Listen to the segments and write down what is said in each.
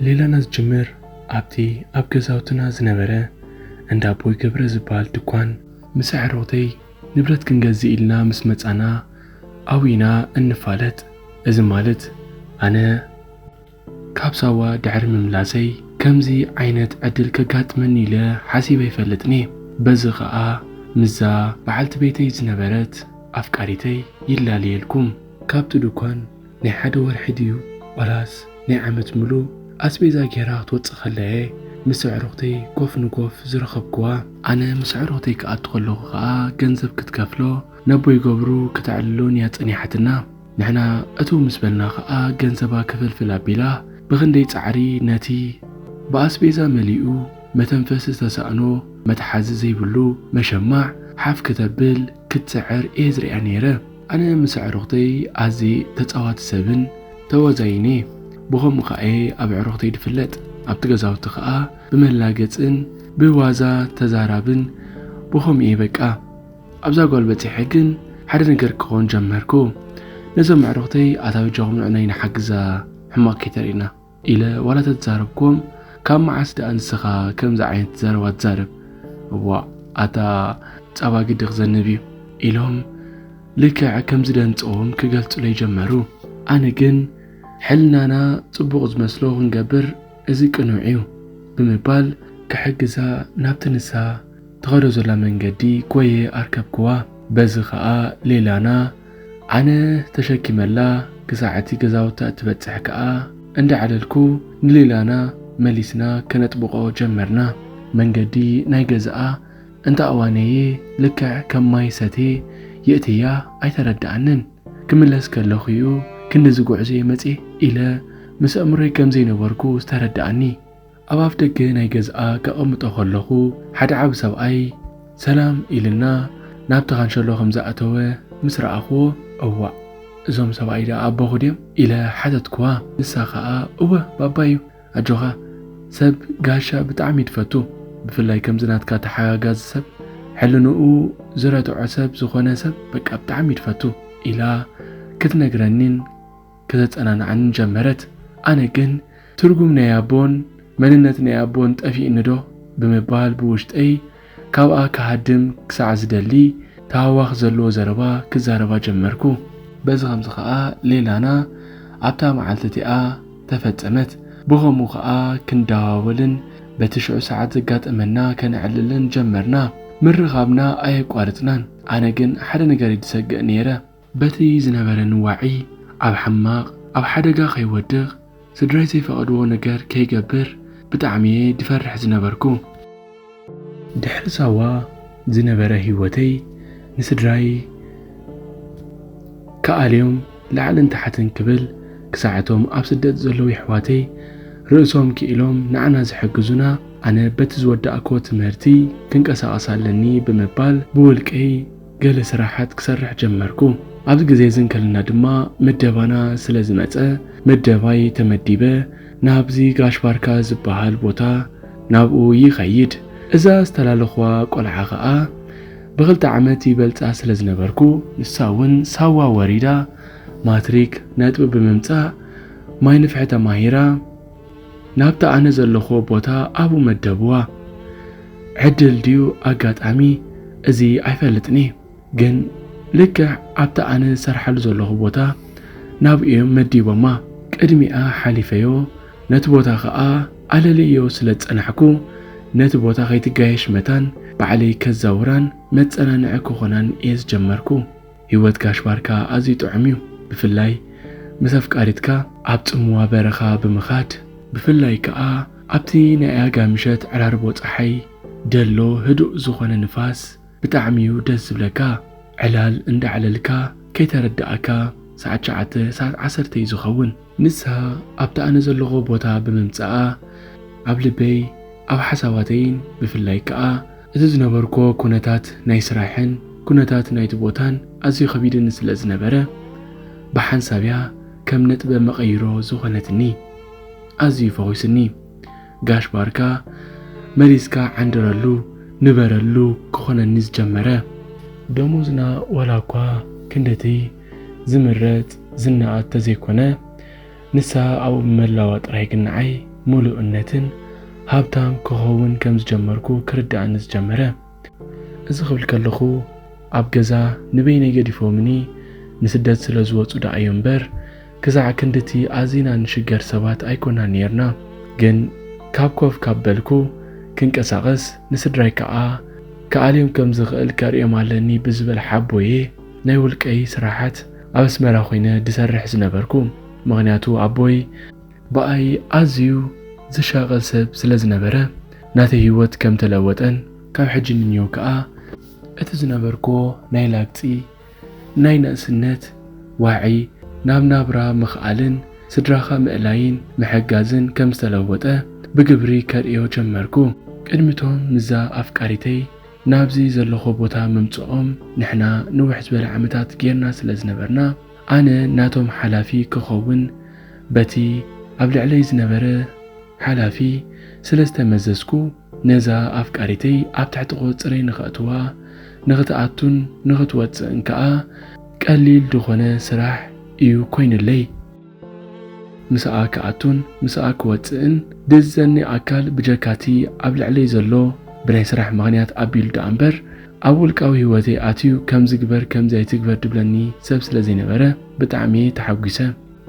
ሌላና ዝጅምር ኣብቲ ኣብ ገዛውትና ዝነበረ እንዳ ኣቦይ ገብረ ዝበሃል ድኳን ምስ ኣዕሩኽተይ ንብረት ክንገዝእ ኢልና ምስ መጻና ኣብኡ ኢና እንፋለጥ። እዚ ማለት ኣነ ካብ ሳዋ ድሕሪ ምምላሰይ ከምዚ ዓይነት ዕድል ከጋጥመኒ ኢለ ሓሲበ ኣይፈልጥን'የ። በዚ ከኣ ምስዛ በዓልቲ ቤተይ ዝነበረት ኣፍቃሪተይ ይላለየልኩም። ካብቲ ዱኳን ናይ ሓደ ወርሒ ድዩ ዋላስ ናይ ዓመት ምሉእ ኣስቤዛ ገይራ ክትወጽእ ከላ'የ ምስ ኣዕሩኽተይ ኮፍ ንኮፍ ዝረኸብኩዋ። ኣነ ምስ ኣዕሩኽተይ ክኣቱ ከለኹ ከኣ ገንዘብ ክትከፍሎ፣ ነቦይ ገብሩ ከተዕልሎን እያ ጸኒሓትና። ንሕና እትው ምስ በልና ኸኣ ገንዘባ ክፍልፍል ኣቢላ ብኽንደይ ጻዕሪ ነቲ ብኣስቤዛ መሊኡ መተንፈሲ ዝተሳእኖ መትሓዚ ዘይብሉ መሸማዕ ሓፍ ክተብል ክትጽዕር እየ ዝርእያ ነይረ። ኣነ ምስ ኣዕሩኽተይ ኣዝየ ተጻዋቲ ሰብን ተዋዛይን እየ። ብኸምኡ ከኣ እየ ኣብ ኣዕሩኽተይ ዝፍለጥ። ኣብቲ ገዛውቲ ከኣ ብመላገጽን ብዋዛ ተዛራብን ብኸምኡ እየ በቃ። ኣብዛ ጓል በጺሐ ግን ሓደ ነገር ክኾን ጀመርኩ። ነዞም ኣዕሩኽተይ ኣታ በጃኹም ንዕናይ ንሓግዛ ሕማቕ ከይተርእዩና ኢለ ዋላ ተዛረብኩም ካብ መዓስ ደኣ ንስኻ ከምዚ ዓይነት ዘረባ ትዛረብ እዋ ኣታ ጸባ ግዲ ክዘንብ እዩ ኢሎም ልክዕ ከምዚ ደንጸዎም ክገልጹለይ ጀመሩ። ኣነ ግን ሕልናና ጽቡቕ ዝመስሎ ክንገብር እዚ ቅኑዕ እዩ ብምባል ክሕግዛ ናብቲ ንሳ ትኸዶ ዘላ መንገዲ ጎየ ኣርከብክዋ በዚ ከኣ ሌላና ኣነ ተሸኪመላ ክሳዕ እቲ ገዛውታ እትበጽሕ ከኣ እንዳዕለልኩ ንሌላና መሊስና ከነጥብቆ ጀመርና መንገዲ ናይ ገዝኣ እንተ ኣዋነየ ልክዕ ከም ማይ ሰቴ የእትያ ኣይተረድኣንን ክምለስ ከለኹዩ ክንድዚ ጉዕዞየ መጽየ ኢለ ምስ ኣእምሮይ ከምዘይነበርኩ ዝተረድኣኒ ኣብ ኣፍደገ ናይ ገዝኣ ከቐምጦ ከለኹ ሓደ ዓቢ ሰብኣይ ሰላም ኢሉና ናብቲ ካንሸሎ ከም ዝኣተወ ምስ ረኣኹዎ፣ እዋእ! እዞም ሰብኣይ ደኣ ኣቦኹ ድዮም? ኢለ ሓተትኩዋ። ንሳ ከኣ እወ ባባ'ዩ፣ ኣጆኻ ሰብ ጋሻ ብጣዕሚ'ዩ ድፈቱ፣ ብፍላይ ከምዚ ናትካ ተሓጋጋዚ ሰብ፣ ሕልንኡ ዝረትዖ ሰብ ዝኾነ ሰብ በቃ ብጣዕሚ'ዩ ድፈቱ ኢላ ክትነግረኒን፣ ከተጸናንዓኒ ጀመረት። ኣነ ግን ትርጉም ናይ ኣቦን መንነት ናይ ኣቦን ጠፊኡኒዶ ብምባል ብውሽጠይ ካብኣ ክሃድም ክሳዕ ዝደሊ ታህዋኽ ዘለዎ ዘረባ ክዛረባ ጀመርኩ። በዚ ኸምዚ ኸኣ ሌላና ኣብታ መዓልቲ እቲኣ ተፈጸመት። ብኸምኡ ኸኣ ክንደዋወልን በቲ ሽዑ ሰዓት ዘጋጠመና ከነዕልልን ጀመርና። ምርኻብና ኣየቋረጽናን። ኣነ ግን ሓደ ነገር እየ ዝሰግእ ነይረ። በቲ ዝነበረኒ ዋዒ ኣብ ሕማቕ ኣብ ሓደጋ ከይወድቕ ስድራይ ዘይፈቐድዎ ነገር ከይገብር ብጣዕሚ'የ ድፈርሕ ዝነበርኩ። ድሕሪ ሳዋ ዝነበረ ህይወተይ ንስድራይ ክኣልዮም ላዕልን ታሕትን ክብል ክሳዕ እቶም ኣብ ስደት ዘለዉ የሕዋተይ ርእሶም ክኢሎም ንዓና ዝሕግዙና ኣነ በቲ ዝወዳእክዎ ትምህርቲ ክንቀሳቐስ ኣለኒ ብምባል ብውልቀይ ገለ ስራሓት ክሰርሕ ጀመርኩ። ኣብዚ ግዜ እዚ እንከለና ድማ ምደባና ስለ ዝመጸ ምደባይ ተመዲበ ናብዚ ጋሽ ባርካ ዝበሃል ቦታ ናብኡ ይኸይድ። እዛ ዝተላለኹዋ ቆልዓ ከኣ ብኽልተ ዓመት ይበልጻ ስለ ዝነበርኩ፣ ንሳ እውን ሳዋ ወሪዳ ማትሪክ ነጥቢ ብምምጻእ ማይ ንፍሒ ተማሂራ፣ ናብቲ ኣነ ዘለኹዎ ቦታ ኣብኡ መደብዋ። ዕድል ድዩ ኣጋጣሚ እዚ ኣይፈልጥን እየ፣ ግን ልክዕ ኣብቲ ኣነ ዝሰርሓሉ ዘለኹ ቦታ ናብኡ እዮም መዲቦማ። ቅድሚኣ ሓሊፈዮ፣ ነቲ ቦታ ከኣ ኣለልየዮ ስለ ዝጸናሕኩ፣ ነቲ ቦታ ከይትጋየሽ መታን ባዕለይ ከዛውራን መጸናንዒ ክኾናን እየ ዝጀመርኩ። ሂወት ጋሽ ባርካ ኣዝዩ ጥዑም ዩ ብፍላይ ምስ ኣፍቃሪትካ ኣብ ጽምዋ በረኻ ብምኻድ ብፍላይ ክኣ ኣብቲ ናይ ኣጋ ምሸት ዕራርቦ ጸሓይ ደሎ ህዱእ ዝኾነ ንፋስ ብጣዕሚ ዩ ደስ ዝብለካ ዕላል እንዳዕለልካ ከይተረደኣካ ሰዓት ሸዓተ ሰዓት ዓሰርተ ዩ ዝኸውን ንሳ ኣብቲ ኣነ ዘለኹዎ ቦታ ብምምጽኣ፣ ኣብ ልበይ፣ ኣብ ሓሳባተይን ብፍላይ ከኣ እቲ ዝነበርኩዎ ኩነታት ናይ ስራሕን ኩነታት ናይቲ ቦታን ኣዝዩ ከቢድኒ ስለ ዝነበረ፣ ብሓንሳብ'ያ ከም ነጥበ መቐይሮ ዝኾነትኒ። ኣዝዩ ፈዊሱኒ። ጋሽ ባርካ መሊስካ ዓንድረሉ፣ ንበረሉ ክኾነኒ ዝጀመረ። ደሞዝና ዋላ'ኳ ክንድ'ቲ ዝምረጽ ዝነኣድ ተዘይኮነ፣ ንስሃ ኣብኡ ብምህላዋ ጥራይ ግን ንዓይ ምሉእነትን ሃብታም ክኸውን ከም ዝጀመርኩ ክርድኣኒ ዝጀመረ። እዚ ክብል ከለኹ ኣብ ገዛ ንበይነይ ገዲፎምኒ ንስደት ስለ ዝወጹ ደኣ'ዩ እምበር ክሳዕ ክንድቲ ኣዚና ንሽገር ሰባት ኣይኮናን ኔርና። ግን ካብ ኮፍ ካብ በልኩ ክንቀሳቐስ ንስድራይ ከኣ ክኣልዮም ከም ዝኽእል ከርእዮም ኣለኒ ብዝብል ሓቦ'የ፣ ናይ ውልቀይ ስራሓት ኣብ ኣስመራ ኮይነ ድሰርሕ ዝነበርኩ ምኽንያቱ ኣቦይ ብኣይ ኣዝዩ ዝሻቐል ሰብ ስለ ዝነበረ ናተይ ሂወት ከም ተለወጠን ካብ ሕጂ ንንየው ከኣ እቲ ዝነበርክዎ ናይ ላግጺ ናይ ነእስነት ዋዒ ናብ ናብራ ምኽኣልን ስድራኻ ምእላይን ምሕጋዝን ከም ዝተለወጠ ብግብሪ ከርእዮ ጀመርኩ ቅድሚ'ቶም ምስዛ ኣፍቃሪተይ ናብዚ ዘለኹ ቦታ ምምጽኦም ንሕና ንውሕ ዝበለ ዓመታት ጌርና ስለ ዝነበርና ኣነ ናቶም ሓላፊ ክኸውን በቲ ኣብ ልዕለይ ዝነበረ ሓላፊ ስለ ዝተመዘዝኩ ነዛ ኣፍቃሪተይ ኣብ ትሕቲ ቁጽጽረይ ንኸእትዋ ንኽትኣቱን ንኽትወጽእን ከኣ ቀሊል ድኾነ ስራሕ ኢዩ ኮይኑለይ። ምስኣ ክኣቱን ምስኣ ክወጽእን ድእዝዘኒ ኣካል ብጀካቲ ኣብ ልዕለይ ዘሎ ብናይ ስራሕ ምኽንያት ኣቢሉ ድኣምበር ኣብ ውልቃዊ ሂወተይ ኣትዩ ከምዚ ግበር ከምዚ ኣይትግበር ድብለኒ ሰብ ስለዘይነበረ ብጣዕሚየ ተሓጒሰ።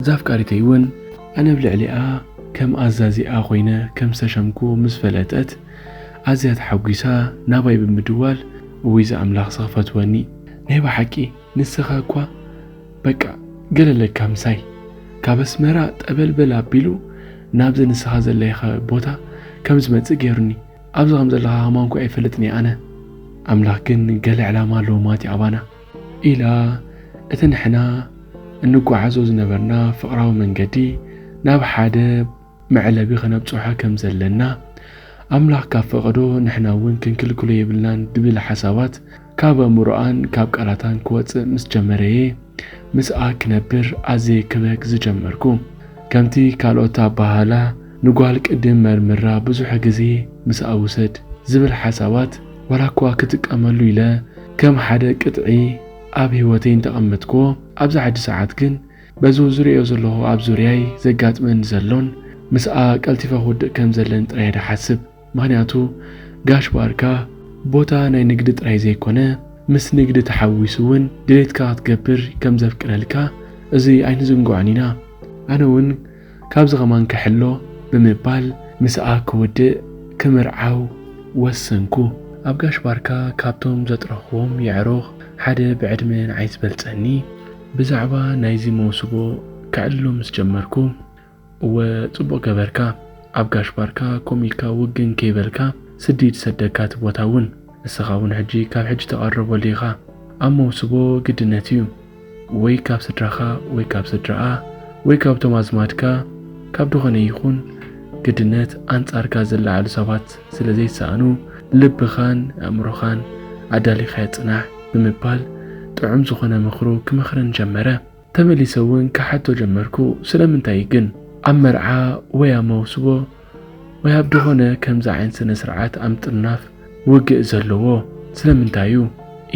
እዛ ኣፍቃሪተይ ውን ኣነ ኣብ ልዕሊኣ ከም ኣዛዚኣ ኮይነ ከም ዝተሸምኩ ምስ ፈለጠት ኣዝያ ተሓጒሳ ናባይ ብምድዋል እውይ ዝኣምላኽስ ክፈትወኒ ናይ ብሓቂ ንስኻ እኳ በቃ ገለለካ ምሳይ ካብ ኣስመራ ጠበልበል ኣቢሉ ናብዚ ንስኻ ዘለኻ ቦታ ከም ዝመጽእ ገይሩኒ። ኣብዚ ከም ዘለኻ ከማን እኳ ኣይፈልጥን'የ ኣነ። ኣምላኽ ግን ገለ ዕላማ ኣለዎ ማቲ ኣባና። ኢላ እቲ ንሕና እንጓዓዞ ዝነበርና ፍቕራዊ መንገዲ ናብ ሓደ መዕለቢ ከነብጽሖ ከም ዘለና፣ ኣምላኽ ካብ ፈቐዶ ንሕና'ውን ክንክልክሎ የብልናን ድብል ሓሳባት ካብ ኣእምሮኣን ካብ ቃላታን ክወጽእ ምስ ጀመረ'የ ምስኣ ክነብር ኣዝየ ክበክ ዝጀመርኩ። ከምቲ ካልኦት ኣበሃህላ ንጓል ቅድም መርምራ ብዙሕ ግዜ ምስኣ ውሰድ ዝብል ሓሳባት ዋላ'ኳ ክጥቀመሉ ኢለ ከም ሓደ ቅጥዒ ኣብ ህይወተይ እንተቐመጥክዎ ኣብዚ ሕጂ ሰዓት ግን በዚ ዝርእዮ ዘለኹ ኣብ ዙርያይ ዘጋጥመኒ ዘሎን ምስኣ ቀልቲፈ ክውድእ ከም ዘለኒ ጥራይ'የ ድሓስብ። ምኽንያቱ ጋሽ ባርካ ቦታ ናይ ንግዲ ጥራይ ዘይኮነ ምስ ንግዲ ተሓዊሱ እውን ድሌትካ ክትገብር ከም ዘፍቅደልካ እዚ ኣይንዝንግዖን ኢና። ኣነ እውን ካብዚ ከማን ክሕሎ ብምባል ምስኣ ክውድእ፣ ክምርዓው፣ ወሰንኩ። ኣብ ጋሽ ባርካ ካብቶም ዘጥረኹዎም የዕሩኽ ሓደ ብዕድመ ንዓይ ዝበልጸኒ፣ ብዛዕባ ናይዚ መውስቦ ከዕልሎ ምስ ጀመርኩ፣ እወ ጽቡቅ ገበርካ ኣብ ጋሽ ባርካ ኮም ኢልካ ውግን ከይ በልካ ስዲድ ሰደካ እቲ ቦታ ውን እስኻ ውን ሕጂ ካብ ሕጂ ተቀረበሉ ኢኻ ኣብ መውስቦ ግድነት ኢዩ ወይ ካብ ስድራኻ ወይ ካብ ስድራኣ ወይ ካብቶም ኣዝማድካ ካብ ድኾነ ይኹን ግድነት ኣንጻርካ ዝለዓሉ ሰባት ስለ ዘይሰኣኑ ልብኻን ኣእምሮኻን ኣዳሊኻዮ ጽናሕ ብምባል ጥዑም ዝኾነ ምኽሩ ክመኽረን ጀመረ ተመሊሰ እውን ክሓቶ ጀመርኩ፣ ስለምንታይ እዩ ግን? ኣብ መርዓ ወይ ኣብ መውስቦ ወይ ኣብ ድኾነ ከምዚ ዓይነት ስነ-ስርዓት ኣብ ምጥርናፍ ውግእ ዘለዎ ስለምንታይ እዩ?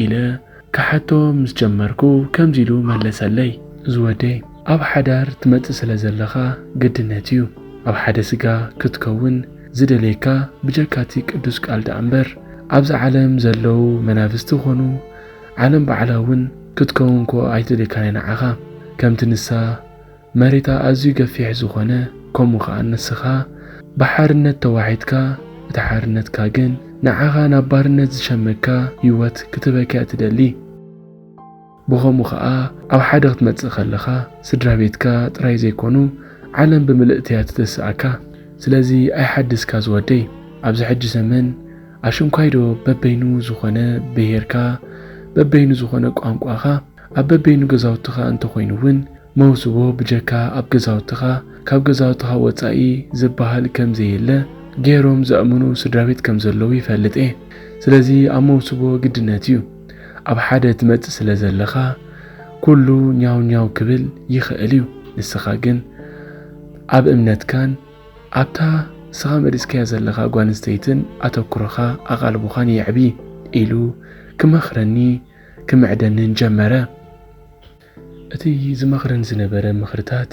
ኢለ ክሓቶ ምስ ጀመርኩ ከምዚ ኢሉ መለሰለይ። ዝወደይ፣ ኣብ ሓዳር ትመጽእ ስለ ዘለኻ ግድነት እዩ፣ ኣብ ሓደ ስጋ ክትከውን ዝደልየካ ብጀካ እቲ ቅዱስ ቃል ደኣ እምበር ኣብዚ ዓለም ዘለዉ መናፍስቲ ኮኑ ዓለም ባዕላ ውን ክትከውን እኮ ኣይትልካን እያ ንዓኻ ከምቲ ንሳ መሬታ ኣዝዩ ገፊሕ ዝኾነ ከምኡ ከኣ ንስኻ ብሓርነት ተዋሒጥካ እቲ ሓርነትካ ግን ንዓኻ ናብ ባርነት ዝሸመካ ሂወት ክትህበካ'ያ ትደሊ ብኸምኡ ከኣ ኣብ ሓደ ክትመጽእ ከለኻ ስድራቤትካ ጥራይ ዘይኮኑ ዓለም ብምልእቲ'ያ ትትስኣካ ስለዚ ኣይሓድስካ ዝወደይ ኣብዚ ሕጂ ዘመን ኣሽንኳይዶ በበይኑ ዝኾነ ብሄርካ፣ በበይኑ ዝኾነ ቋንቋኻ፣ ኣብ በበይኑ ገዛውትኻ እንተኾይኑ እውን መውስቦ ብጀካ ኣብ ገዛውትኻ፣ ካብ ገዛውትኻ ወፃኢ ዝብሃል ከምዘየለ ገይሮም ዘእምኑ ስድራቤት ከምዘለዉ ይፈልጥ እየ። ስለዚ ኣብ መውስቦ ግድነት እዩ። ኣብ ሓደ ትመፅእ ስለዘለኻ ኩሉ ኛው ኛው ክብል ይኽእል እዩ። ንስኻ ግን ኣብ እምነትካን ኣብታ ንስኻ መሪጽካያ ዘለኻ ጓል ኣንስተይትን ኣተኩሮኻ ኣቓልቦኻን የዕቢ ኢሉ ክመኽረኒ ክምዕደንን ጀመረ። እቲ ዝመኽረኒ ዝነበረ ምኽርታት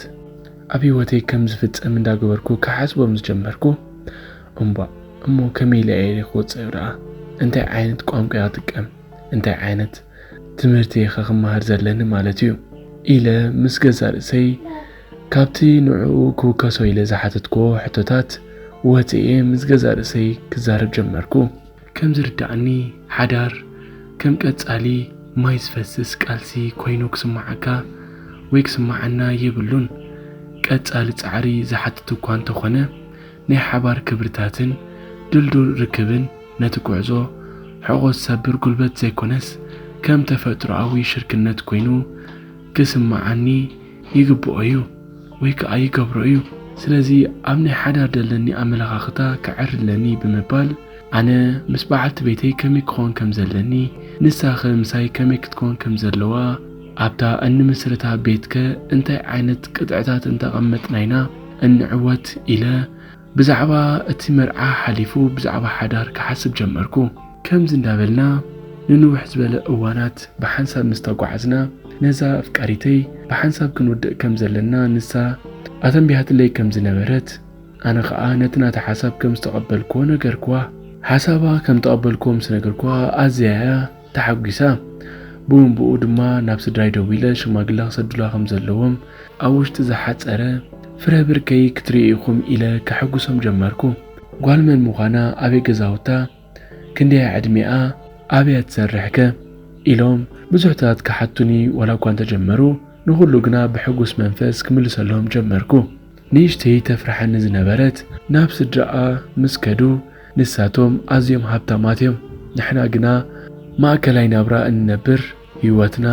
ኣብ ህይወተይ ከም ዝፍጸም እንዳገበርኩ ክሓስቦ ምስ ጀመርኩ እምቧእ እሞ ከመይ ኢለ እየ ክወጽኦ ደኣ እንታይ ዓይነት ቋንቋ እየ ክጥቀም እንታይ ዓይነት ትምህርቲ እየ ከ ክመሃር ዘለኒ ማለት እዩ ኢለ ምስ ገዛእ ርእሰይ ካብቲ ንዕኡ ክውከሶ ኢለ ዝሓተትክዎ ሕቶታት ወጺኤ ምስ ገዛእ ርእሰይ ክዛረብ ጀመርኩ። ከም ዝርድኣኒ ሓዳር ከም ቀጻሊ ማይ ዝፈስስ ቃልሲ ኮይኑ ክስምዓካ ወይ ክስምዓና የብሉን። ቀጻሊ ጻዕሪ ዝሓትት እኳ እንተኾነ ናይ ሓባር ክብርታትን ድልዱል ርክብን ነቲ ጉዕዞ ሕቖ ዝሰብር ጉልበት ዘይኮነስ ከም ተፈጥሮኣዊ ሽርክነት ኮይኑ ክስምዓኒ ይግብኦ እዩ ወይ ከኣ ይገብሮ እዩ ስለዚ ኣብ ናይ ሓዳር ደለኒ ኣመለኻኽታ ክዕሪ ኣለኒ ብምባል ኣነ ምስ በዓልቲ ቤተይ ከመይ ክኾን ከም ዘለኒ ንሳኸ ምሳይ ከመይ ክትኮን ከም ዘለዋ ኣብታ እንምስርታ ቤትከ እንታይ ዓይነት ቅጥዕታት እንተቐመጥና ኢና እንዕወት ኢለ ብዛዕባ እቲ መርዓ ሓሊፉ ብዛዕባ ሓዳር ክሓስብ ጀመርኩ። ከምዚ እንዳበልና ንንውሕ ዝበለ እዋናት ብሓንሳብ ምስ ተጓዓዝና፣ ነዛ ኣፍቃሪተይ ብሓንሳብ ክንውድእ ከም ዘለና ንሳ ኣተንቢሃትለይ ከም ዝነበረት፣ ኣነ ኸኣ ነቲ ናታ ሓሳብ ከም ዝተቐበልኩዎ ነገርኩዋ። ሓሳባ ከም እተቐበልኩዎ ምስ ነገርኩዋ ኣዝያ'ያ ተሓጒሰ። ብኡንብኡ ድማ ናብ ስድራይ ደዊለ ሽማግለ ክሰዱላ ከም ዘለዎም፣ ኣብ ውሽጢ ዝሓጸረ ፍረ ብርከይ ክትርእዩ ኢኹም ኢለ ከሐጕሶም ጀመርኩ። ጓል መን ምዃና፣ ኣበይ ገዛውታ፣ ክንደይ'ያ ዕድሜኣ፣ ኣበይ'ያ ትሰርሕ'ከ? ኢሎም ብዙሕታት ክሓቱኒ ዋላ'ኳ እንተ ጀመሩ፣ ንዅሉ ግና ብሕጉስ መንፈስ ክምልሰሎም ጀመርኩ። ንእሽተይ ተፍርሓኒ ዝነበረት ናብ ስድራኣ ምስ ከዱ፣ ንሳቶም ኣዝዮም ሃብታማት እዮም፣ ንሕና ግና ማእከላይ ናብራ እንነብር፣ ህይወትና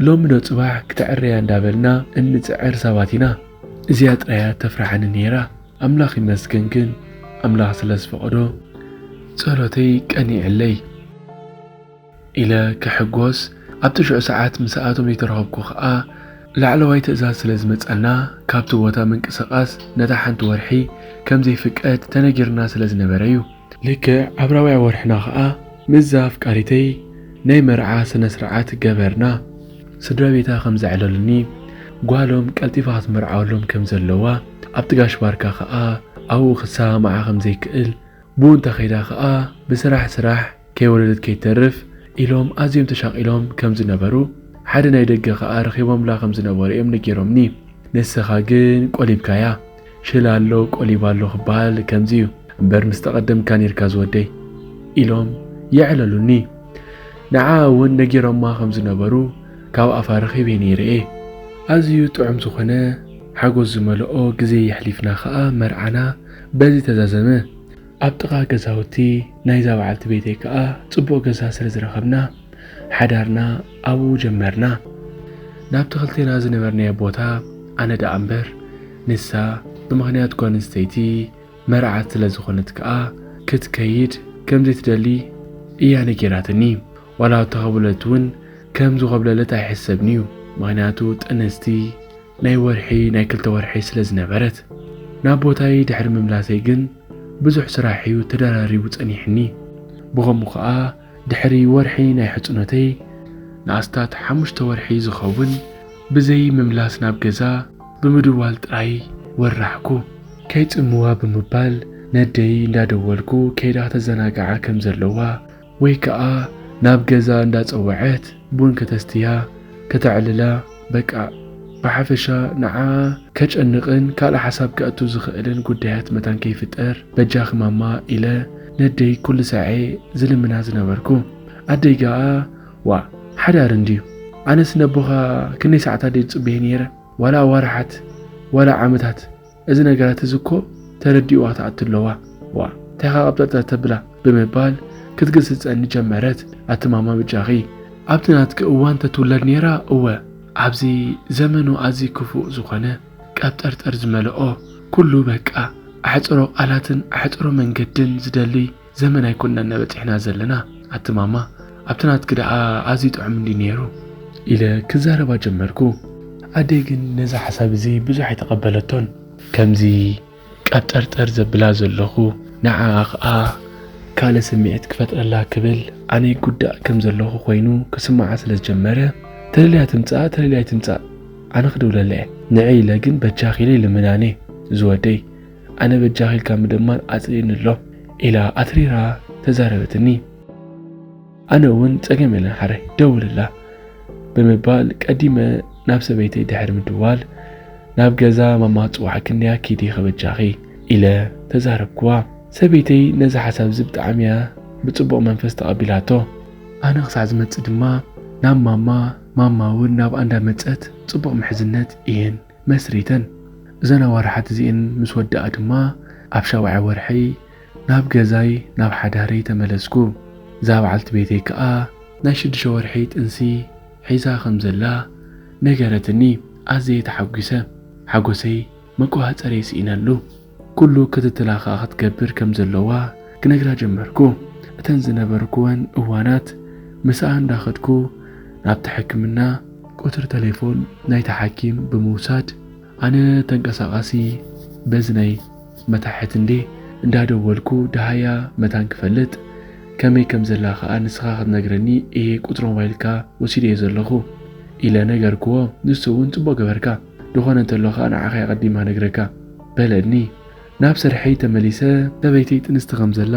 ሎሚዶ ጽባሕ ክተዕርያ እንዳበልና እንጽዕር ሰባት ኢና። እዚኣ ጥራይ እያ እተፍርሓኒ ነይራ፣ ኣምላኽ ይመስገን ግን ኣምላኽ ስለ ዝፈቐዶ ጸሎተይ ቀኒዕለይ። ኢለ ክሕጎስ ኣብ ትሽዑ ሰዓት ምስኣቶም ይተረኸብኩ ከኣ ላዕለዋይ ትእዛዝ ስለ ዝመጻና ካብቲ ቦታ ምንቅስቃስ ነታ ሓንቲ ወርሒ ከም ዘይፍቀድ ተነጊርና ስለ ዝነበረ እዩ። ልክዕ ኣብ ራብዓይ ወርሕና ከኣ ምስዛ ኣፍቃሪተይ ናይ መርዓ ስነ ስርዓት ገበርና። ስድራ ቤታ ከም ዘዕለሉኒ ጓሎም ቀልጢፋ ክትምርዓወሎም ከም ዘለዋ ኣብቲ ጋሽ ባርካ ከኣ ኣብኡ ክሰማማዓ ከም ዘይክእል ብኡ እንተኸይዳ ከኣ ብስራሕ ስራሕ ከይወለደት ከይትተርፍ ኢሎም ኣዝዮም ተሻቒሎም ከም ዝነበሩ፣ ሓደ ናይ ደገ ከኣ ረኺቦምላ ከም ዝነበሩ እዮም ነጊሮምኒ። ንስኻ ግን ቆሊብካያ። ሽላ ኣሎ ቆሊባ ኣሎ ክበሃል ከምዚ እዩ። እምበር ምስ ተቐደምካ ኔርካ ዝወደይ። ኢሎም የዕለሉኒ። ንዓኣ እውን ነጊሮማ ከም ዝነበሩ ካብ ኣፋ ረኺበ ነይረ እየ። ኣዝዩ ጥዑም ዝኾነ ሓጎስ ዝመልኦ ግዜ የሕሊፍና ከኣ መርዓና በዚ ተዛዘመ። ኣብ ጥቓ ገዛውቲ ናይዛ በዓልቲ ቤተይ ከኣ ጽቡቕ ገዛ ስለ ዝረኸብና፣ ሓዳርና ኣብኡ ጀመርና። ናብቲ ክልቴና ዝነበርናዮ ቦታ ኣነ ደኣ እምበር፣ ንሳ ብምኽንያት ጓል ኣንስተይቲ መርዓት ስለ ዝኾነት ከኣ ክትከይድ ከም ዘይትደሊ እያ ነጊራትኒ። ዋላ ተዀብለልት'ውን ከም ዝኾብለለት ኣይሕሰብን'ዩ፣ ምኽንያቱ ጥንስቲ፣ ናይ ወርሒ ናይ ክልተ ወርሒ ስለ ዝነበረት ናብ ቦታይ ድሕሪ ምምላሰይ ግን ብዙሕ ስራሕ እዩ ተደራሪቡ ጸኒሕኒ ብኸምኡ ከኣ ድሕሪ ወርሒ ናይ ሕጽኖተይ ንኣስታት ሓሙሽተ ወርሒ ዝኸውን ብዘይ ምምላስ ናብ ገዛ ብምድዋል ጥራይ ወራሕኩ። ከይጽምዋ ብምባል ነደይ እንዳደወልኩ ከይዳ ተዘናግዓ ከም ዘለዋ ወይ ከኣ ናብ ገዛ እንዳጸወዐት ቡን ከተስትያ ከተዕልላ በቃ ብሓፈሻ ንዓኣ ከጨንቕን ካልእ ሓሳብ ከእቱ ዝኽእልን ጉዳያት መታን ከይፍጠር በጃኺ ማማ ኢለ ነደይ ኩሉ ሳዔ ዝልምና ዝነበርኩ። ኣደይ ገኣ ዋእ ሓዳር እንድዩ ኣነስ ነቦኻ ክንደይ ሳዓት ኣደይ ዝጽበዬ ኔረ ዋላ ኣዋርሓት ዋላ ዓመታት እዚ ነገራት እዚ እኮ ተረዲኡዋ ትኣቱ ኣለዋ ዋእ እንታይ ኢኻ ቀብጠርጠር ተብላ ብምባል ክትግስጸኒ ጀመረት ኣቲ ማማ ብጃኺ ኣብቲ ናትኪ እዋን ተትውለድ ኔራ እወ ኣብዚ ዘመኑ ኣዝዩ ክፉእ ዝኾነ ቀብጠርጠር ዝመልኦ ኩሉ በቃ ኣሕጽሮ ቃላትን ኣሕጽሮ መንገድን ዝደልይ ዘመን ኣይኮንናን በጺሕና ዘለና ኣቲ ማማ ኣብቲ ናትኪ ደኣ ኣዝዩ ጥዑም እንድዩ ነይሩ ኢለ ክዛረባ ጀመርኩ። ኣደይ ግን ነዚ ሓሳብ እዚ ብዙሕ ኣይተቐበለቶን። ከምዚ ቀብጠርጠር ዘብላ ዘለኹ ንዓኣ ከኣ ካልእ ስምዒት ክፈጥረላ ክብል ኣነ ይጉዳእ ከም ዘለኹ ኮይኑ ክስምዓ ስለ ዝጀመረ ተደልያ ትምጻእ ተደልያ ኣይትምጻእ ኣነ ክድውለላ እየ ንዒ ኢለ ግን በጃኺ ኢለ ይልምና ነይ ዝወደይ ኣነ በጃኺ ኢልካ ምድማር ኣጽሊእኒ ኣሎ ኢላ ኣትሪራ ተዛረበትኒ። ኣነ እውን ጸገም የለን ሓራይ ደውልላ ብምባል ቀዲመ ናብ ሰበይተይ ድሕሪ ምድዋል ናብ ገዛ ማማ ጽዋዕ ክንድያ ኪዲ ከበጃኺ ኢለ ተዛረብኩዋ። ሰበይተይ ነዚ ሓሳብ እዚ ብጣዕሚ እያ ብጽቡቕ መንፈስ ተቐቢላቶ። ኣነ ክሳዕ ዝመጽእ ድማ ናብ ማማ ማማ እውን ናብኣ እንዳመጸት ጽቡቕ ምሕዝነት እየን መስሪተን። እዘን ኣዋርሓት እዚኤን ምስ ወድኣ ድማ ኣብ ሻውዓይ ወርሐይ ናብ ገዛይ ናብ ሓዳረይ ተመለስኩ። እዛ በዓልቲ ቤተይ ከኣ ናይ ሽዱሽተ ወርሒ ጥንሲ ሒዛ ከም ዘላ ነገረትኒ። ኣዘየ ተሓጒሰ። ሓጎሰይ መቆጻጸሪየ ስኢነሉ። ኩሉ ክትትላ ከኣ ክትገብር ከም ዘለዋ ክነግራ ጀመርኩ። እተን ዝነበርኩወን እዋናት ምስኣ እንዳኸድኩ ናብቲ ሕክምና፣ ቁጽሪ ተሌፎን ናይቲ ሓኪም ብምውሳድ ኣነ ተንቀሳቓሲ በዚ ናይ መታሕት እንዴ እንዳደወልኩ ደሃያ መታን ክፈልጥ ከመይ ከም ዘላ ከኣ ንስኻ ክትነግረኒ እየ ቁጽሪ ሞባይልካ ወሲደዮ ዘለኹ ኢለ ነገርኩዎ። ንሱ እውን ጽቡቕ ገበርካ። ድኾነ እንተሎ ከኣ ንዓኸይ ኣቐዲማ ነግረካ በለኒ። ናብ ስርሐይ ተመሊሰ ሰበይተይ ጥንስቲ ከም ዘላ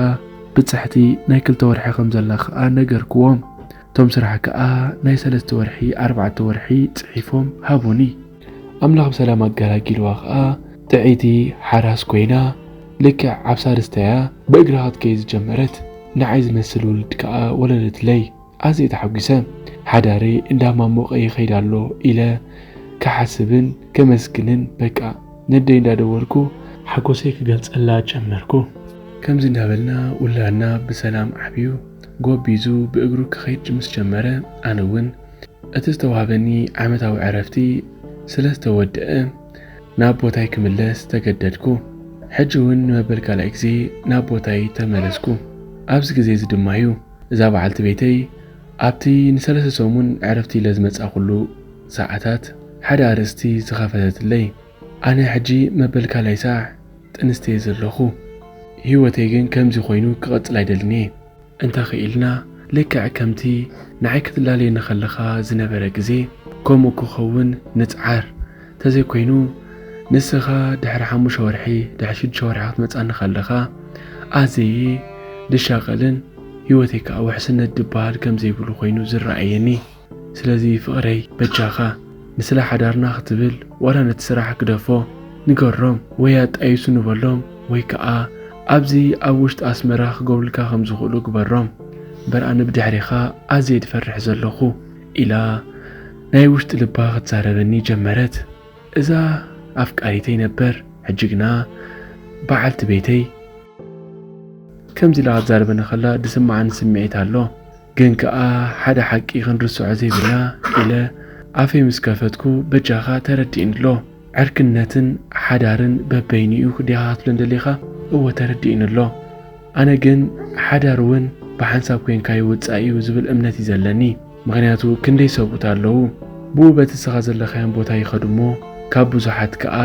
ብጽሕቲ ናይ ክልተ ወርሒ ከም ዘላ ከኣ ነገርክዎም። እቶም ስራሕ ከኣ ናይ ሰለስተ ወርሒ ኣርባዕተ ወርሒ ጽሒፎም ሃቡኒ። ኣምላኽ ብሰላም ኣገላጊልዋ ከኣ ጥዕይቲ ሓራስ ኮይና ልክዕ ኣብ ሳልስታያ ብእግራ ክትከይድ ዝጀመረት። ንዓይ ዝመስል ውልድ ከኣ ወለደትለይ። ኣዝየ ተሓጒሰ። ሓዳረይ እንዳማሞቐ ይኸይድ ኣሎ ኢለ ክሓስብን ከመስግንን በቃ ነደይ እንዳደወልኩ ሓጎሰይ ክገልጸላ ጀመርኩ። ከምዚ እንዳበልና ውላድና ብሰላም ዓብዩ ጎቢዙ ብእግሩ ክኸይድ ምስ ጀመረ ኣነ እውን እቲ ዝተዋህበኒ ዓመታዊ ዕረፍቲ ስለ ዝተወደኣ ናብ ቦታይ ክምለስ ተገደድኩ። ሕጂ እውን ንመበል ካልኣይ ግዜ ናብ ቦታይ ተመለስኩ። ኣብዚ ግዜ እዚ ድማ እዩ። እዛ በዓልቲ ቤተይ ኣብቲ ንሰለስተ ሰሙን ዕረፍቲ ኢለ ዝመጻእኩሉ ሰዓታት ሓደ ኣርእስቲ ዝኸፈተትለይ፣ ኣነ ሕጂ መበል ካልኣይ ሳዕ ጥንስቲ'የ ዘለኹ። ህይወተይ ግን ከምዚ ኮይኑ ክቕጽል ኣይደልን'የ። እንተ ኽኢልና ልክዕ ከምቲ ንዓይ ክትላለየኒ ከለኻ ዝነበረ ግዜ ከምኡ ክኸውን ንጽዓር። ተዘይኮይኑ ንስኻ ድሕሪ ሓሙሽተ ወርሒ ድሕሪ ሽዱሽተ ወርሒ ክትመጻኒ ከለኻ ኣዘየ ድሻቐልን ህይወተይ ከዓ ውሕስነት ድበሃል ከም ዘይብሉ ኮይኑ ዝረኣየኒ ስለዚ ፍቕረይ በጃኻ ንስለ ሓዳርና ክትብል ዋላ ነቲ ስራሕ ግደፎ ንገሮም ወይ ኣጣይሱ ንበሎም ወይ ከዓ ኣብዚ ኣብ ውሽጢ ኣስመራ ክገብሩልካ ከም ዝኽእሉ ግበሮም እምበር ኣነ ብድሕሪኻ ኣዘየ ድፈርሕ ዘለኹ ኢላ ናይ ውሽጢ ልባ ክትዛረበኒ ጀመረት እዛ ኣፍቃሪተይ ነበር ሕጂ ግና በዓልቲ ቤተይ ከምዚ ኢላ ክትዛረበኒ ከላ ዝስመዓኒ ስምዒት ኣሎ ግን ከኣ ሓደ ሓቂ ክንርስዖ ዘይብልና ኢለ ኣፈይ ምስ ከፈትኩ በጃኻ ተረድእኒ ኣሎ ዕርክነትን ሓዳርን በበይንኡ ክደኻትሎ እንደሌኻ እወ ተረዲኡኒ ኣሎ። ኣነ ግን ሓዳር እውን ብሓንሳብ ኮይንካ ይውፃእ እዩ ዝብል እምነት እዩ ዘለኒ። ምኽንያቱ ክንደይ ሰብኡት ኣለዉ ብኡ በቲ ንስኻ ዘለኻዮም ቦታ ይኸዱ እሞ ካብ ብዙሓት ከዓ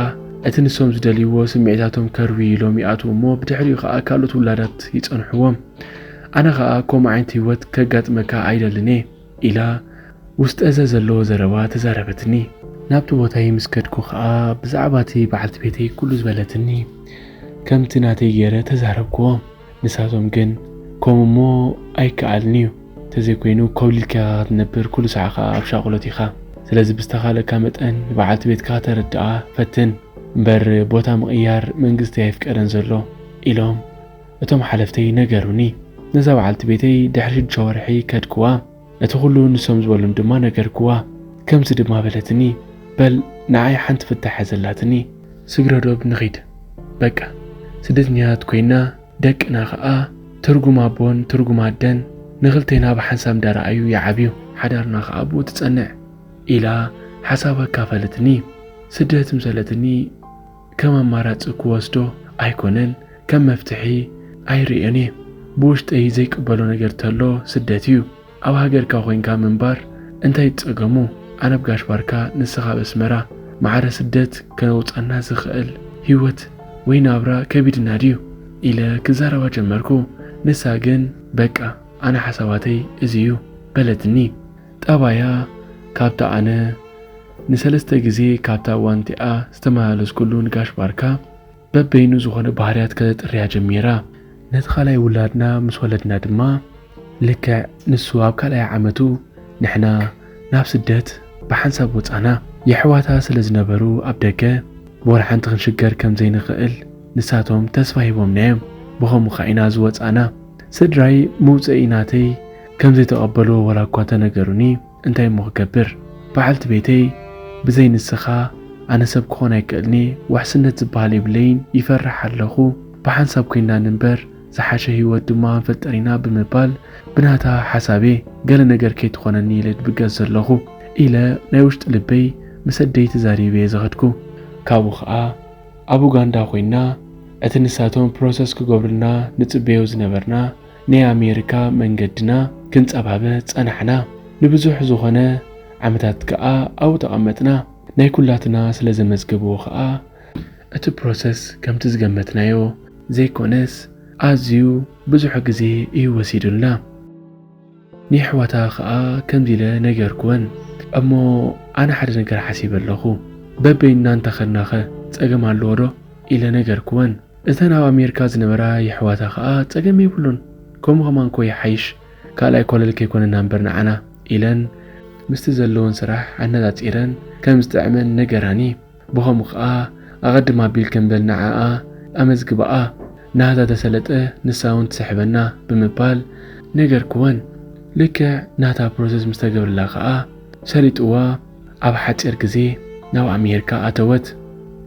እቲ ንሶም ዝደልይዎ ስምዒታቶም ከርዊ ኢሎም ይኣትዉ እሞ ብድሕሪኡ ከዓ ካልኦት ውላዳት ይፀንሕዎም። ኣነ ከዓ ከምኡ ዓይነት ህይወት ከጋጥመካ ኣይደልን እየ። ኢላ ውስጠዘ ዘለዎ ዘረባ ተዛረበትኒ። ናብቲ ቦታይ ምስ ከድኩ ከኣ ብዛዕባቲ በዓልቲ ቤተይ ኩሉ ዝበለትኒ ከምቲ ናተይ ገይረ ተዛረብክዎም። ንሳቶም ግን ከምኡ እሞ ኣይከኣልን'ዩ ተዘይኮይኑ ኮብሊልካ ኢኻ ክትነብር ኩሉ ሳዕ ከኣ ኣብ ሻቁሎት ኢኻ ስለዚ ብዝተኻለካ መጠን ንበዓልቲ ቤትካ ከተረድኣ ፈትን እምበር ቦታ ምቕያር መንግስቲ ኣይፍቀደን ዘሎ ኢሎም እቶም ሓለፍተይ ነገሩኒ። ነዛ በዓልቲ ቤተይ ድሕሪ ሽዱሽተ ወርሒ ከድክዋ። እቲ ኹሉ ንሶም ዝበሉኒ ድማ ነገርክዋ። ከምዚ ድማ በለትኒ፣ በል ንዓይ ሓንቲ ፍታሕ ያዘላትኒ። ስግረዶብ ንኺድ በቃ። ስደተኛታት ኮይና፣ ደቅና ኸኣ ትርጉም ኣቦን ትርጉም ኣደን ንኽልቴና ብሓንሳብ እንዳረኣዩ ይዓብዩ። ሓዳርና ኸኣ ኣብኡ ትጸንዕ። ኢላ ሓሳባ ኣካፈለትኒ። ስደት ምሰለትኒ። ከም ኣማራጺ ክወስዶ ኣይኮነን ከም መፍትሒ ኣይርእዮን እየ ብውሽጠይ ዘይቅበሎ ነገር ተሎ ስደት እዩ ኣብ ሃገርካ ኮንካ ምንባር እንታይ ጸገሙ ኣነብ ጋሽ ባርካ ንስካ ኣብ ኣስመራ ማዕረ ስደት ከነውጻና ዝክእል ሂወት ወይ ናብራ ከቢድና ድዩ ኢለ ክዛረባ ጀመርኩ ንሳ ግን በቃ ኣነ ሓሳባተይ እዚ እዩ በለትኒ ጠባያ ካብታ ኣነ ንሰለስተ ግዜ ካብታ ዋንቲኣ ዝተመላለስኩሉ ንጋሽ ባርካ በበይኑ ዝኾነ ባህርያት ከተጥርያ ጀሚራ። ነቲ ካልኣይ ውላድና ምስ ወለድና ድማ ልክዕ ንሱ ኣብ ካልኣይ ዓመቱ ንሕና ናብ ስደት ብሓንሳብ ወጻና። የሕዋታ ስለ ዝነበሩ ኣብ ደገ ብወላ ሓንቲ ክንሽገር ከም ዘይንኽእል ንሳቶም ተስፋ ሂቦምና'ዮም። ብኸምኡ ከኣ ኢና ዝወጻና። ስድራይ መውጸኢ ናተይ ከም ዘይተቐበልዎ ወላ'ኳ እንተነገሩኒ፣ እንታይ እሞ ክገብር በዓልቲ ቤተይ ብዘይ ንስኻ ኣነ ሰብ ክኾን ኣይክእልንየ ውሕስነት ዝብሃል የብለይን ይፈርሕ ኣለኹ ብሓንሳብ ኮይንና ንንበር ዝሓሸ ሂወት ድማ ክንፈጥር ኢና ብምባል ብናታ ሓሳብየ ገለ ነገር ከይትኾነኒ ኢለ ድብገስ ዘለኹ ኢለ ናይ ውሽጢ ልበይ ምስ ኣደይ ተዛሪበየ ዝኸድኩ። ካብኡ ከኣ ኣብ ኡጋንዳ ኮይንና እቲ ንሳቶም ፕሮሰስ ክገብሩልና ንጽበዮ ዝነበርና ናይ ኣሜሪካ መንገድና ክንጸባበ ጸናሕና። ንብዙሕ ዝኾነ ዓመታት ከኣ ኣብኡ ተቐመጥና። ናይ ኩላትና ስለ ዘመዝገብዎ ከኣ እቲ ፕሮሰስ ከምቲ ዝገመትናዮ ዘይኮነስ ኣዝዩ ብዙሕ ግዜ እዩ ወሲዱልና። ንየሕዋታ ከኣ ከምዚ ኢለ ነገርክወን። እሞ ኣነ ሓደ ነገር ሓሲበ ኣለኹ። በበይንና እንተ ኸድናኸ ጸገም ኣለዎዶ? ኢለ ነገርክወን። እተን ኣብ ኣሜርካ ዝነበራ የሕዋታ ከኣ ጸገም የብሉን ከምኡ ከማን እኮ ይሓይሽ ካልኣይ ኮለል ከይኮነና እምበር ንዓና ኢለን ምስቲ ዘለወን ስራሕ ኣነጻጺረን ከም ዝጥዕመን ነገራኒ ብከምኡ ከኣ ኣቀድም ኣቢልክን በል ንዓኣ ኣመዝግባኣ ናህታ ተሰለጠ ንሳ ውን ትስሕበና ብምባል ነገርክወን ልክዕ ናህታ ፕሮሰስ ምስ ተገብርላ ከኣ ሰሊጥዋ ኣብ ሓጺር ግዜ ናብ ኣሜርካ ኣተወት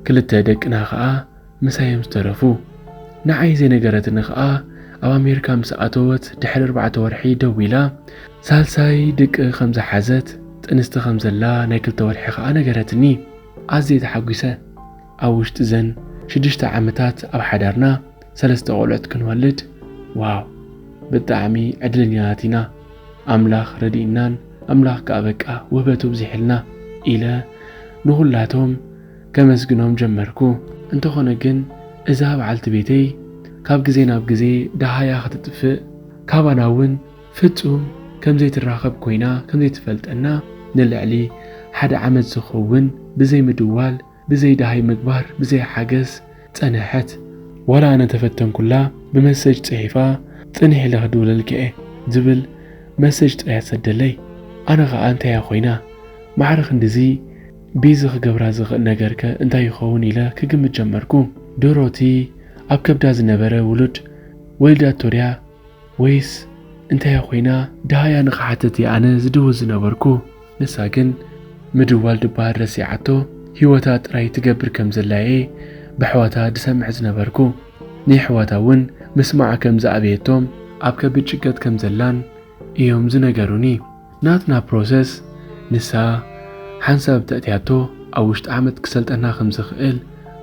ክልተ ደቅና ከኣ ምሳዮም ዝተረፉ። ንዓይ ዘይነገረትኒ ከኣ ኣብ ኣሜሪካ ምስ ኣተወት ድሕሪ ኣርባዕተ ወርሒ ደዊላ ሳልሳይ ድቂ ከም ዝሓዘት ጥንስቲ ከም ዘላ ናይ ክልተ ወርሒ ከኣ ነገረትኒ። ኣዝየ ተሓጒሰ። ኣብ ውሽጢ ዘን ሽዱሽተ ዓመታት ኣብ ሓዳርና ሰለስተ ቆልዑት ክንወልድ ዋው ብጣዕሚ ዕድለኛታት ኢና ኣምላኽ ረዲእናን ኣምላኽ ከኣ በቃ ውህበቱ ኣብዚሕልና ኢለ ንኹላቶም ከመስግኖም ጀመርኩ። እንተኾነ ግን እዛ በዓልቲ ቤተይ ካብ ግዜ ናብ ግዜ ደሃያ ክትጥፍእ ካባና እውን ፍጹም ከም ዘይትራኸብ ኮይና ከም ዘይትፈልጠና ንልዕሊ ሓደ ዓመት ዝኸውን ብዘይ ምድዋል ብዘይ ደሃይ ምግባር ብዘይ ሓገዝ ጸነሐት። ዋላ ኣነ ተፈተንኩላ ብመሰጅ ጽሒፋ ጽንሕ ኢለ ክድውለልኪ'የ ዝብል መሰጅ ጥራይ ትሰደለይ ኣነ ከኣ እንታይ'ያ ኮይና ማዕረ ክንድዚ ቢዚ ክገብራ ዝኽእል ነገርከ እንታይ ይኸውን ኢለ ክግምት ጀመርኩ። ዶሮቲ ኣብ ከብዳ ዝነበረ ውሉድ ወሊዳቶ ድያ ወይስ እንታይ እያ ኮይና? ደሃያ ንኽሓትት እየ ኣነ ዝድውል ዝነበርኩ። ንሳ ግን ምድዋል ድበሃል ረሲዓቶ ህይወታ ጥራይ ትገብር ከም ዘላ እየ በሕዋታ ድሰምዕ ዝነበርኩ። ንየሕዋታ እውን ምስማዓ ከም ዝኣበየቶም፣ ኣብ ከቢድ ጭንቀት ከም ዘላን እዮም ዝነገሩኒ ናትና ፕሮሰስ ንሳ ሓንሳብ ተእትያቶ ኣብ ውሽጢ ዓመት ክሰልጠና ከም ዝኽእል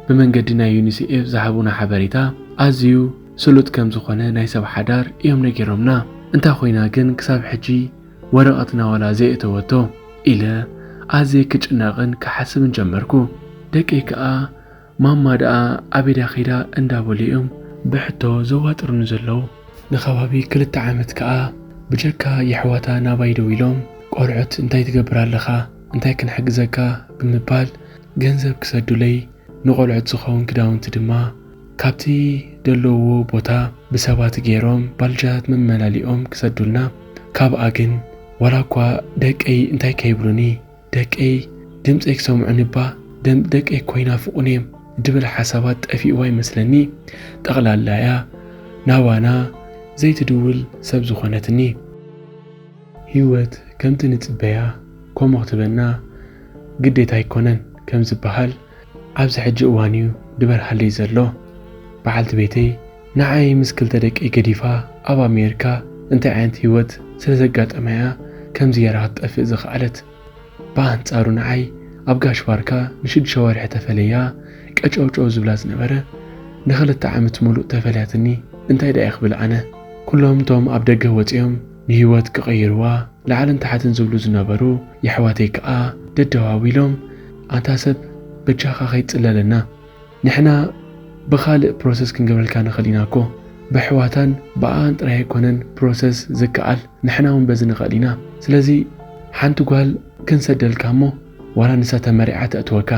ብመንገዲ ናይ ዩኒሴኤፍ ዝሃቡና ሓበሬታ ኣዝዩ ስሉጥ ከም ዝኾነ ናይ ሰብ ሓዳር እዮም ነጊሮምና እንታ ኮይና ግን ክሳብ ሕጂ ወረቐትና ዋላ ዘየእተወቶ ኢለ ኣዝየ ክጭነቕን ክሓስብን ጀመርኩ ደቀይ ከኣ ማማ ደኣ ኣበይ ድያ ከይዳ እንዳበሉ እዮም ብሕቶ ዘዋጥሩኒ ዘለዉ። ንከባቢ ክልተ ዓመት ከኣ ብጀካ የሕዋታ ናባይ ደዊሎም ቆልዑት እንታይ ትገብር ኣለኻ እንታይ ክንሕግዘካ ብምባል ገንዘብ ክሰዱለይ ንቆልዑት ዝኸውን ክዳውንቲ ድማ ካብቲ ደለዉዎ ቦታ ብሰባት ገይሮም ባልጃታት መመላሊኦም ክሰዱልና ካብኣ ግን ዋላኳ ደቀይ እንታይ ከይብሉኒ ደቀይ ድምጸይ ክሰምዑኒ እባ ደም ደቀይ እኮ ይናፍቁኒ እዮም ድብል ሓሳባት ጠፊእዋ ይመስለኒ ጠቅላላ እያ ናባና ዘይትድውል ሰብ ዝኮነትኒ። ሂወት ከምቲ ንጽበያ ኮሞ ክትበና ግዴታ ኣይኮነን ከም ዝበሃል፣ ኣብዚ ሕጂ እዋን እዩ ድበርሃለይ ዘሎ። በዓልቲ ቤተይ ንዓይ ምስ ክልተ ደቀይ ገዲፋ ኣብ ኣሜሪካ እንታይ ዓይነት ህይወት ስለ ዘጋጠማ እያ ከምዚ ገይራ ክትጠፍእ ዝኸኣለት። ብኣንጻሩ ንዓይ ኣብ ጋሽ ባርካ ንሽዱሽተ ወርሒ ተፈለያ ቀጨውጨው ዝብላ ዝነበረ ንኽልተ ዓመት ምሉእ ተፈልያትኒ እንታይ ደኣ ክብል ኣነ። ኩሎም እቶም ኣብ ደገ ወጺኦም ንህይወት ክቕይርዋ ላዕልን ታሕትን ዝብሉ ዝነበሩ የሕዋተይ ከኣ ደደዋዊሎም ኣንታ ሰብ በጃኻ ከይትጽለለና ንሕና ብኻልእ ፕሮሰስ ክንገብረልካ ንኽእል ኢና እኮ በሕዋታን ብኣኣን ጥራይ ኣይኮነን ፕሮሰስ ዝከኣል ንሕና ውን በዚ ንኽእል ኢና ስለዚ ሓንቲ ጓል ክንሰደልካ እሞ ዋላ ንሳ ተመሪዓ ተእትወካ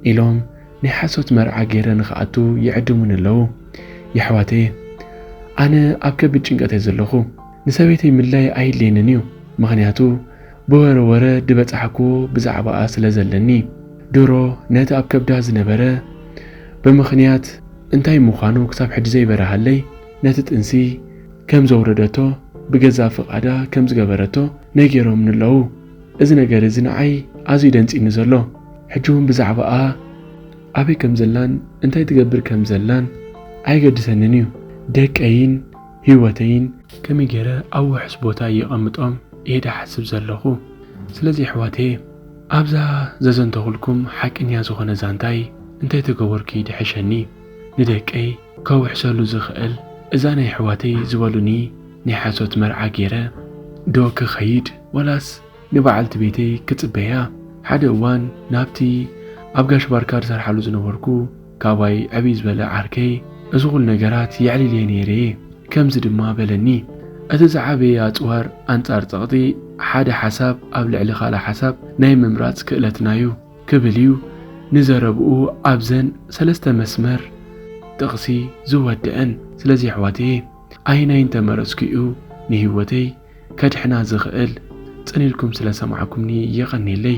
ኢሎም ናይ ሓሶት መርዓ ገይረ ንክኣቱ ይዕድሙኒ ኣለዉ የሕዋተየ ኣነ ኣብ ከቢድ ጭንቀት እየ ዘለኹ ንሰበይተይ ምድላይ ኣይድልየንን እዩ ምኽንያቱ ብወረ ወረ ድበጻሕክዎ ብዛዕባኣ ስለ ዘለኒ ድሮ ነቲ ኣብ ከብዳ ዝነበረ ብምኽንያት እንታይ ምዃኑ ክሳብ ሕጂ ዘይበረሃለይ ነቲ ጥንሲ ከም ዘውረደቶ ብገዛእ ፍቃዳ ከም ዝገበረቶ ነጊሮምኒ ኣለዉ። እዚ ነገር እዚ ንዓይ ኣዝዩ ደንጺኒ ዘሎ ሕጂ እውን ብዛዕባኣ ኣበይ ከም ዘላን እንታይ ትገብር ከም ዘላን ኣየገድሰንን እዩ ደቀይን ህይወተይን ከመይ ገይረ ኣብ ውሑስ ቦታ የቐምጦም እየ ድሓስብ ዘለኹ ስለዚ ኣሕዋተየ ኣብዛ ዘዘንተኹልኩም ሓቂንያ ዝኾነ ዛንታይ እንተይተገበርኩ ይድሕሸኒ ንደቀይ ከውሕሰሉ ዝኽእል እዛ ናይ ኣሕዋተይ ዝበሉኒ ናይ ሓሶት መርዓ ጌረ ዶ ክኸይድ ወላስ ንበዓልቲ ቤተይ ክጽበያ ሓደ እዋን ናብቲ ኣብ ጋሽ ባርካ ዝሰርሓሉ ዝነበርኩ ካባይ ዕብይ ዝበለ ዓርከይ እዚ ኩሉ ነገራት የዕሊልየ ነይረ እየ ከምዚ ድማ በለኒ እቲ ዝዓበየ ኣጽዋር ኣንጻር ጸቕጢ ሓደ ሓሳብ ኣብ ልዕሊ ካልእ ሓሳብ ናይ ምምራጽ ክእለትና እዩ ክብል እዩ ንዘረብኡ ኣብዘን ሰለስተ መስመር ጥቕሲ ዝወደእን። ስለዚ ኣሕዋተየ ኣየናይ እንተመረጽኩ እዩ ንህይወተይ ከድሕና ዝኽእል? ጽን ኢልኩም ስለ ሰማዕኩምኒ የቐኔለይ።